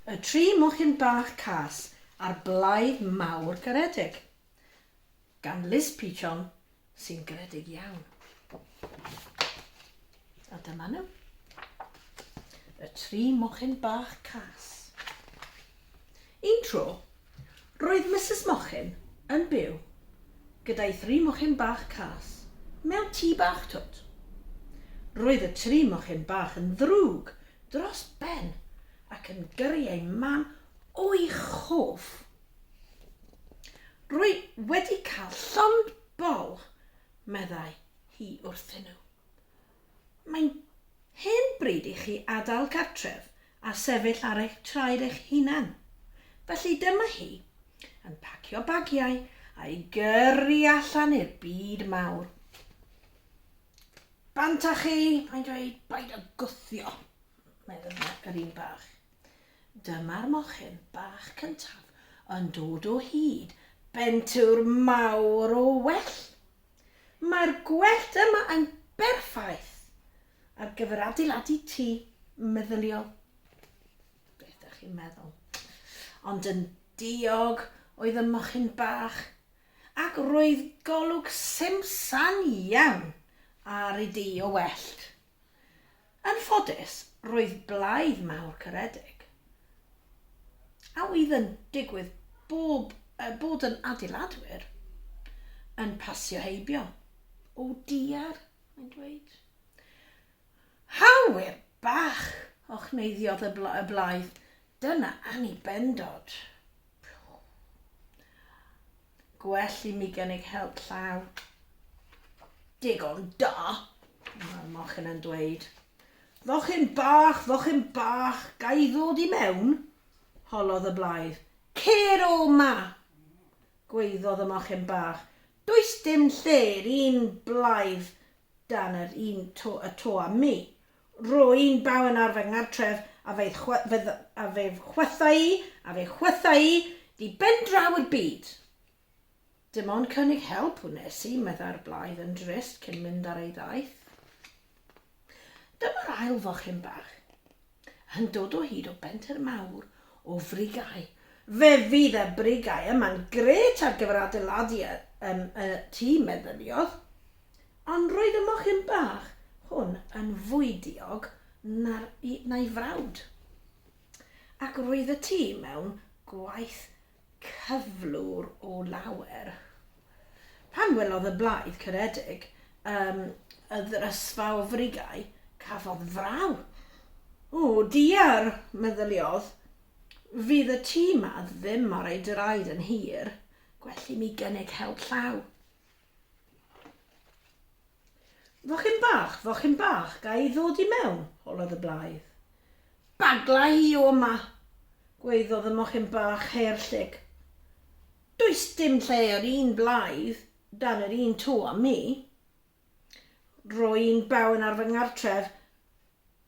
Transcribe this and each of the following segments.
Y tri mochyn bach cas a'r blaidd mawr garedig. Gan Liz Peachon, sy'n garedig iawn. A dyma nhw. Y tri mochyn bach cas. Un tro, Roedd Misus Mochyn yn byw gyda'i thri mochyn bach cas mewn tŷ bach twt. Roedd y tri mochyn bach yn ddrwg dros ben ac yn gyrru eu mam o'u chof. Rwy wedi cael llond bol, meddai hi wrthyn nhw. Mae'n hen bryd i chi adael cartref a sefyll ar eich traed eich hunan. Felly dyma hi, yn pacio bagiau a'i gyrru allan i'r byd mawr. Bant â chi, mae'n dweud, paid â gwthio, meddwl yr un bach. Dyma'r mochyn bach cyntaf yn dod o hyd bentwr mawr o well Mae'r gwellt yma yn berffaith ar gyfer adeiladu tŷ meddyliol. Beth ydych chi'n meddwl? Ond yn diog oedd y mochyn bach, ac roedd golwg simsan iawn ar ei dŷ o wellt. Yn ffodus, roedd blaidd mawr caredig, a oedd yn digwydd bob, uh, bod yn adeiladwyr, yn pasio heibio. O diar, mae'n dweud. Hawyr bach, ochneiddiodd y, bla, y blaidd. Dyna anibendod. Gwell i mi gynnig help llaw. Digon da! Mae'r mochyn yn dweud. Fochyn bach, fochyn bach, ga i ddod i mewn? Holodd y blaidd. Cer o ma! Gweiddodd y mochyn bach. Does dim lle i'r un blaidd dan yr un to y to am mi. Rwy'n baun ar fy nghartref, a fy chwythau i, a fy chwythau i, di ben draw i'r byd! Dim ond cynnig help wnes i, meddai'r blaidd yn drist cyn mynd ar ei ddaith. Dyma'r ail fochyn bach, yn dod o hyd o benter mawr o frigau. Fe fydd y brigau yma'n grêt ar gyfer adeiladu y tŷ, meddyliodd. Ond roedd y mochyn bach hwn yn fwy diog na'r, na'i frawd. Ac roedd y tŷ mewn gwaith cyflwr o lawer. Pan welodd y blaidd caredig um, y ddrysfa o frigau, cafodd fraw. O, diar, meddyliodd, fydd y tŷ ma ddim ar ei draed yn hir, gwell i mi gynnig help llaw. Fochyn bach, fochyn bach, ga i ddod i mewn? holodd y blaidd. Bagla i o 'ma! gwaeddodd y mochyn bach her llyg. Does dim lle yr un blaidd dan yr un tŷ â mi. Rwy'n byw yn ar fy nghartref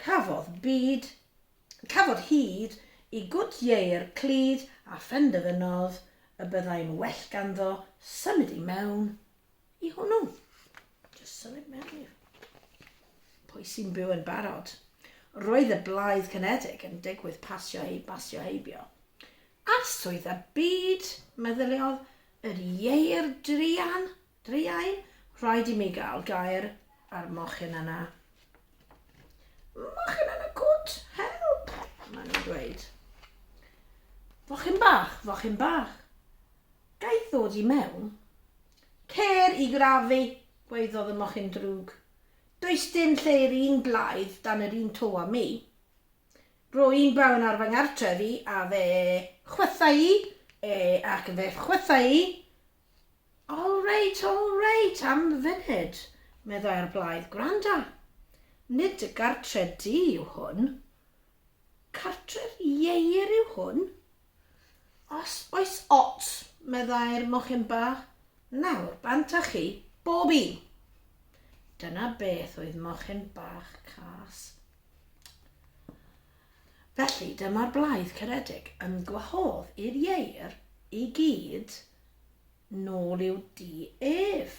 Cafodd byd, cafodd hyd i gwt ieir clud a phenderfynodd y byddai'n well ganddo symud i mewn i hwnnw. Just symud mewn i. Pwy sy'n byw yn barod? Roedd y Blaid Cynedig yn digwydd pasio ei basio heibio. Arswyd a byd, meddyliodd, yr ieir druan Druan, rhaid i mi gael gair ar mochyn yna. Mochyn yn y cwt! Help! Mae'n nhw'n dweud. Fochyn bach, fochyn bach. Gaeth ddod i mewn. Cer i grafu, gwaeddodd y mochyn drwg. Does dim lle i'r un blaidd dan yr un to â mi. Rwy'n bawn ar fy ngartref i a fe chwythau i, e ac fe chwythau i, All right, all right, am funud, meddai'r blaidd, gwranda. Nid dy gartre di yw hwn. Cartre'r ieir yw hwn? Os oes ots, meddai'r mochyn bach, nawr bant â chi, bob un. Dyna beth oedd mochyn bach cas. Felly, dyma'r blaidd caredig yn gwahodd i'r ieir i gyd nôl i'w dŷ ef.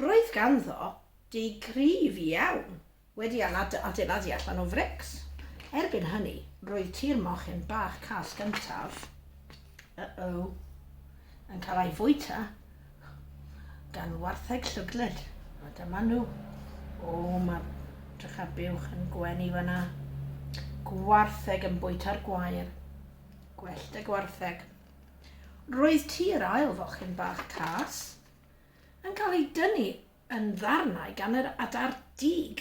Roedd ganddo dŷ cryf iawn wedi ei adeiladu allan o frics. Erbyn hynny, roedd tŷ'r mochyn bach cas gyntaf. Uh-oh. Yn cael ei fwyta gan wartheg llyglyd. A dyma nhw. O, mae drych a buwch yn gwenu fyna. Gwartheg yn bwyta'r gwair. Gwellt y gwartheg. Roedd tir ail fochyn bach cas yn cael ei dynnu yn ddarnau gan yr adar dug.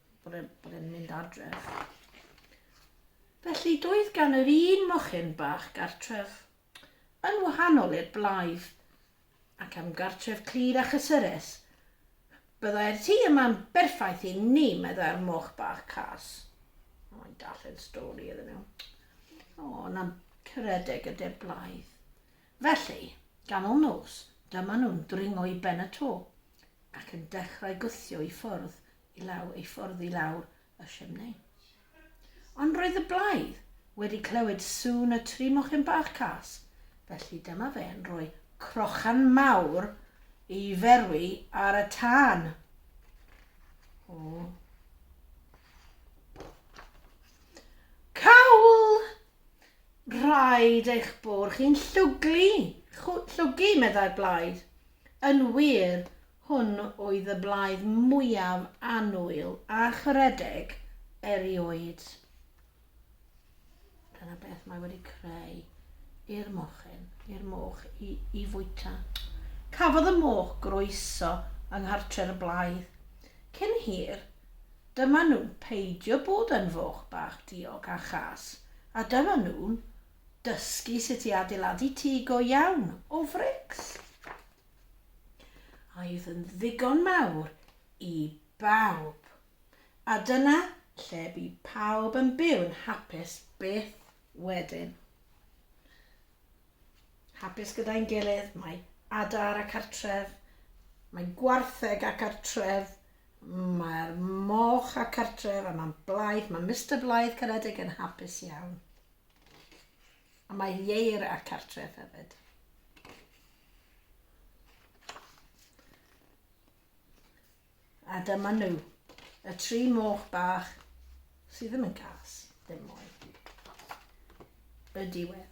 bod e'n bod e'n mynd adref. Felly doedd gan yr un mochyn bach gartref, yn wahanol i'r blaidd, ac am gartref clir a chysurus. Byddai'r tŷ yma'n berffaith i ni, meddai'r moch bach cas. O, i'n darllen stori iddyn nhw. O, na'n cyredeg y de blaidd. Felly, ganol nos, dyma nhw'n dringo i ben y to ac yn dechrau gwthio i ffwrdd i law ei ffordd i lawr y chimney. Ond roedd y blaidd wedi clywed sŵn y tri mochyn bach cas, felly dyma fe yn rhoi crochan mawr i ferwi ar y tân. O. Cawl! Rhaid eich bod chi'n llwglu, llwgu, meddai'r blaidd. Yn wir, Hwn oedd y blaidd mwyaf annwyl a charedig erioed. Dyna beth mae wedi creu i'r mochyn, i'r moch i, i fwyta. Cafodd y moch groeso yng nghartref y blaidd. Cyn hir, dyma nhw'n peidio bod yn foch bach diog a chas, a dyma nhw'n dysgu sut i adeiladu tŷ go iawn o frics. Aeth yn ddigon mawr i bawb. A dyna lle bu pawb yn byw'n hapus byth wedyn. Hapus gyda'n gilydd, mae adar a cartref, mae gwartheg a cartref, mae'r moch a cartref a mae'n Blythe, mae Mister Blythe Caredig yn hapus iawn. A mae Ieir a'r cartref hefyd. A dyma nhw, y tri moch bach sydd ddim yn cas, ddim mwy. Y diwedd.